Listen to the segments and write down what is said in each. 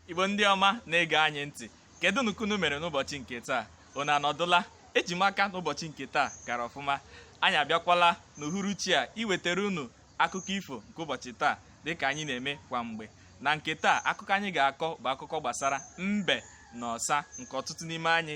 igbo ndị ọma na-ege anyị ntị kedunụ ka unu mere n'ụbọchị nke taa unu anọdụla eji m aka n'ụbọchị nke taa gara ọfụma anyị abịakwala n'uhuruchi a iwetara unu akụkọ ifo nke ụbọchị taa dịka anyị na-eme kwa mgbe na nke taa akụkọ anyị ga-akọ bụ akụkọ gbasara mbe na ọsa nke ọtụtụ n'ime anyị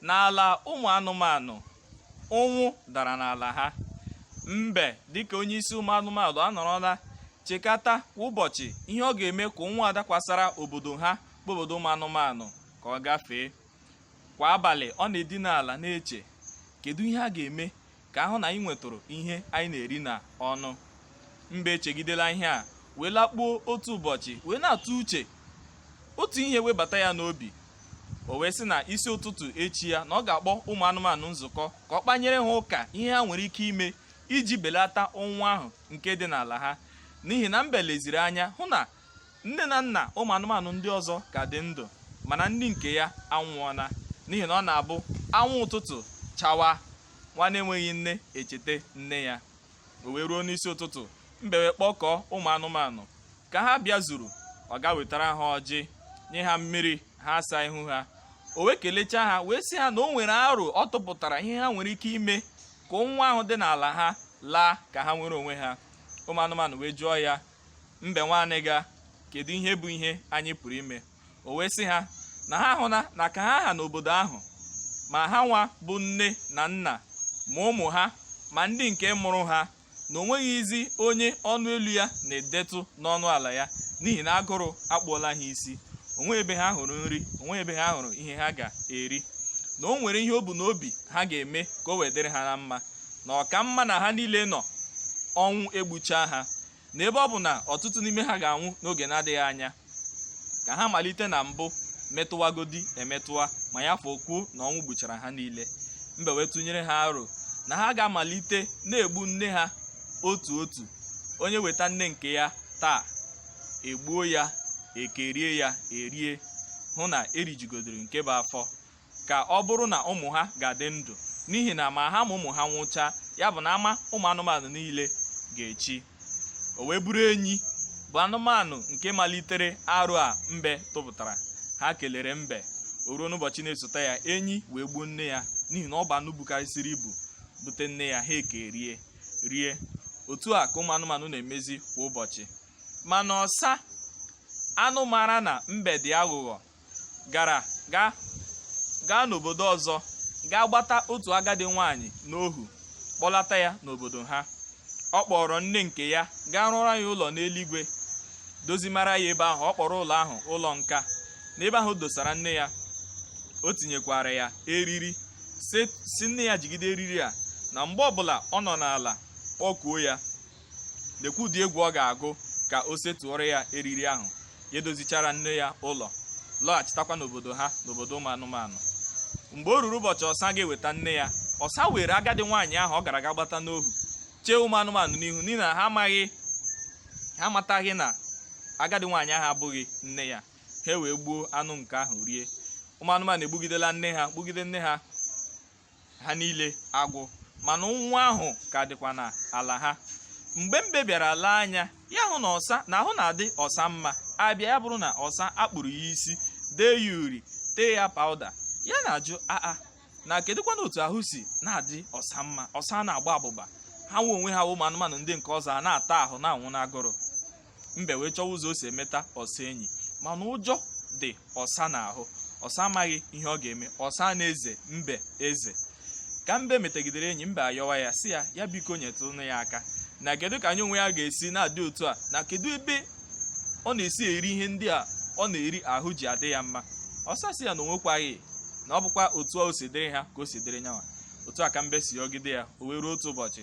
N'ala ụmụ anụmanụ, ụnwụ dara n'ala ha. Mbe dịka onye isi ụmụ anụmanụ anọrọla chekata kwa ụbọchị ihe ọ ga-eme ka ụnwụ a dakwasara obodo ha bụ obodo ụmụ anụmanụ ka ọ gafee. Kwa abalị, ọ na-edina ala na-eche kedu ihe a ga-eme ka a hụ na anyị nwetụrụ ihe anyị na-eri na ọnụ mbe echegidela ihe a wee lakpuo otu ụbọchị wee na-atụ uche otu ihe webata ya n'obi o wee sị na isi ụtụtụ echi ya na ọ ga-akpọ ụmụ anụmanụ nzukọ ka ọ kpanyere ha ụka ihe ha nwere ike ime iji belata ụnwụ ahụ nke dị n'ala ha n'ihi na mbe leziri anya hụ na nne na nna ụmụ anụmanụ ndị ọzọ ka dị ndụ mana ndị nke ya anwụọla n'ihi na ọ na-abụ anwụ ụtụtụ chawa nwa na-enweghị nne echete nne ya o wee ruo n'isi ụtụtụ mbe wee kpọkọọ ụmụ anụmanụ ka ha bịazuru ọ gaa wetara ha ọjị nye ha mmiri ha asaa ihu ha o wee kelechaa ha wee sị ha na o nwere aro ọ tụpụtara ihe ha nwere ike ime ka ụnwụ ahụ dị n'ala ha laa ka ha nwere onwe ha ụmụ anụmanụ wee jụọ ya mbe nwa anịga kedu ihe bụ ihe anyị pụrụ ime o wee sị ha na ha hụla na ka ha ha n'obodo ahụ ma ha nwa bụ nne na nna ma ụmụ ha ma ndị nke mụrụ ha na o nweghịzi onye ọnụ elu ya na-edetụ n'ọnụ ala ya n'ihi na agụrụ akpụọla ha isi o nweghị ebe ha hụrụ nri o nweghị ebe ha hụrụ ihe ha ga-eri na o nwere ihe o bu n'obi ha ga-eme ka o wee dịrị ha na mma na ọ ka mma na ha niile nọ ọnwụ egbuchaa ha na ebe ọ bụ na ọtụtụ n'ime ha ga-anwụ n'oge na-adịghị anya ka ha malite na mbụ metụwagodi emetụwa ma ya fọ okwu na ọnwụ gbuchara ha niile mbe wee tụnyere ha aro na ha ga-amalite na-egbu nne ha otu otu onye weta nne nke ya taa e gbuo ya e kerie ya e rie hụ na e rijugodoro nke bụ afọ ka ọ bụrụ na ụmụ ha ga-adị ndụ n'ihi na ma ha ma ụmụ ha nwụchaa ya bụ na ama ụmụ anụmanụ niile ga-echi o wee bụrụ enyi bụ anụmanụ nke malitere aro a mbe tụpụtara ha kelere mbe o ruo n'ụbọchị na-esote ya enyi wee gbuo nne ya n'ihi na ọ bụ anụ bukarịsịrị ibu bute nne ya ha ekerie rie otu a ka ụmụ anụmanụ na-emezi kwa ụbọchị mana ọsa anụ mara na mbe dị aghụghọ gara gaa n'obodo ọzọ gaa gbata otu agadi nwaanyị n'ohu kpọlata ya n'obodo ha ọ kpọọrọ nne nke ya gaa rụọrọ ya ụlọ n'eluigwe dozimara ya ebe ahụ ọ kpọrọ ụlọ ahụ ụlọ nka n'ebe ahụ dosara nne ya o tinyekwara ya eriri sị nne ya jigide eriri a na mgbe ọbụla ọ nọ n'ala kpọkuo ya lekwa ụdị egwu ọ ga-agụ ka o setuoro ya eriri ahụ ya edozichara nne ya ụlọ lọghachitakwa n'obodo ha n'obodo ụmụ anụmanụ mgbe o ruru ụbọchị ọsa ga-eweta nne ya ọsa were agadi nwaanyị ahụ ọ gara aga gbata n'ohu chee ụmụ anụmanụ n'ihu n'ihi na ha amaghị ha amataghị na agadi nwaanyị ahụ abụghị nne ya ha wee gbuo anụ nke ahụ rie ụmụ anụmanụ egbugidela nne ha gbugide nne ha ha niile agwụ mana ụnwụ ahụ ka dịkwa n'ala ha mgbe mbe bịara lee anya ya hụ na ọsa na ahụ na-adị ọsa mma a bịa ya bụrụ na ọsa a kpụrụ ya isi dee ya uri tee ya pawuda ya na-ajụ aa na kedụkwanụ otu ahụ si na-adị ọsa mma ọsa na-agba abụba ha nwe onwe ha ụmụ anụmanụ ndị nke ọzọ a na-ata ahụ na-anwụ n'agụrụ mbe wee chọwa ụzọ o si emeta ọsa enyi mana ụjọ dị ọsa n'ahụ ọsa amaghị ihe ọ ga-eme ọsa na-eze mbe eze ka mbe metagidere enyi mbe ayọwa ya sị ya ya biko nyetụnụ ya aka na kedu ka nya onwe ya ga-esi na-adị otu a na kedu ebe ọ na-esi eri ihe ndị a ọ na-eri ahụ ji adị ya mma ọsa sị ya na o nwekwaghị na ọ bụkwa otu o si dịrị ha ka o si dịrị nyanwa otu a ka mbe si yọgide ya o wee ruo otu ụbọchị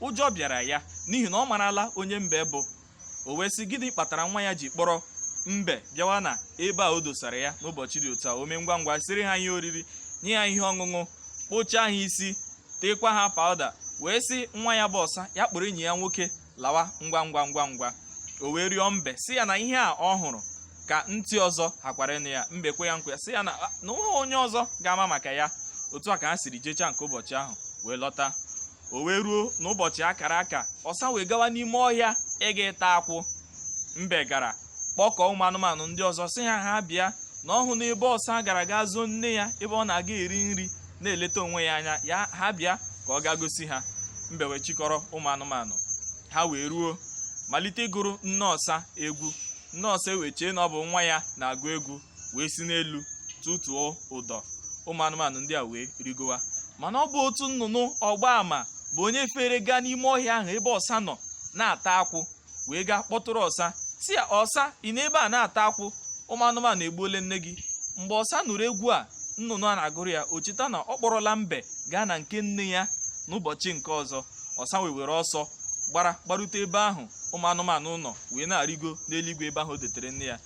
Ụjọ bịara ya n'ihi na ọ marala onye mbe bụ. O wee sị, Gịnị kpatara nwa ya ji kpọrọ mbe bịawa n'ebe a o dosara ya n'ụbọchị dị otu a? O mee ngwa ngwa siiri ha ihe oriri, nye ya ihe ọṅụṅụ, kpụchaa ha isi, teekwa ha pawụda, wee sị nwa ya bụ ọsa ya kpọrọ enyi ya nwoke lawa ngwa ngwa ngwa ngwa. O wee rịọ mbe sị ya na ihe a ọ hụrụ ka ntị ọzọ hakwara ịnụ ya. Mbe kwe ya nkwa sị ya na na o nweghị onye ọzọ ga-ama maka ya. Otu a ka ha siri jechaa nke ụbọchị ahụ wee lọta. o wee ruo n'ụbọchị a kara aka ọsa wee gawa n'ime ọhịa ịga ịta akwụ mbe gara kpọkọọ ụmụ anụmanụ ndị ọzọ sị ha ha bịa na ọ hụna ebe ọsa gara gaa zoo nne ya ebe ọ na-aga eri nri na-eleta onwe ya anya ya ha bịa ka ọ gaa gosi ha mbe wee chịkọrọ ụmụ anụmanụ ha wee ruo malite ịgụrụ nne ọsa egwu nne ọsa ewee chee na ọ bụ nwa ya na-agụ egwu wee si n'elu tụtuo ụdọ ụmụ anụmanụ ndị a wee rịgowa mana ọ bụ otu nnụnụ ọgba ama bụ onye fere gaa n'ime ọhịa ahụ ebe ọsa nọ na-ata akwụ wee gaa kpọtụrụ ọsa sị ya ọsa ị nọ ebe a na-ata akwụ ụmụ anụmanụ egbuola nne gị mgbe ọsa nụrụ egwu a nnụnụ a na-agụrụ ya o cheta na ọ kpọrọla mbe gaa na nke nne ya n'ụbọchị nke ọzọ ọsa wee were ọsọ gbara gbarute ebe ahụ ụmụ anụmanụ nọ wee na-arịgo n'eluigwe ebe ahụ o dotere nne ya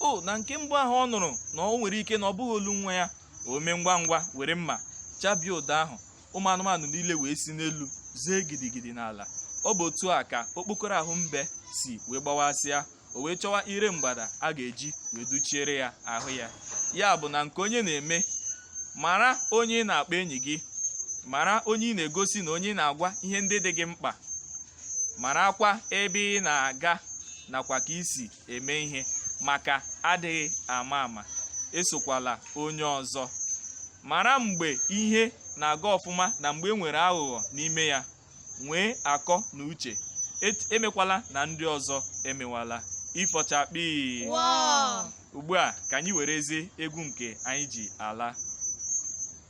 o na nke mbụ ahụ ọ nụrụ na o nwere ike na ọ bụghị olu nwa ya o mee ngwa ngwa were mma chabie ụdọ ahụ ụmụ anụmanụ niile wee si n'elu zee gidigidi n'ala ọ bụ otu a ka okpokoro ahụ mbe si wee gbawasịa o wee chọwa ire mgbada a ga-eji wee dụchiere ya ahụ ya ya bụ na nke onye na-eme mara onye ị na-akpọ enyi gị mara onye ị na-egosi na onye ị na-agwa ihe ndị dị gị mkpa marakwa ebe ị na-aga nakwa ka i si eme ihe maka adịghị ama ama esokwala onye ọzọ mara mgbe ihe na-aga ọfụma na mgbe e nwere aghụghọ n'ime ya nwee akọ na uche emekwala na ndị ọzọ emewala ifo chakpii ugbu a ka anyị werezie egwu nke anyị ji ala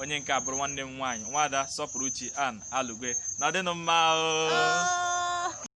onye nke a bụrụ nwanne m nwaanyị nwada Sọpụrụchi an alugwe nọdịnụ mma oo. Oh.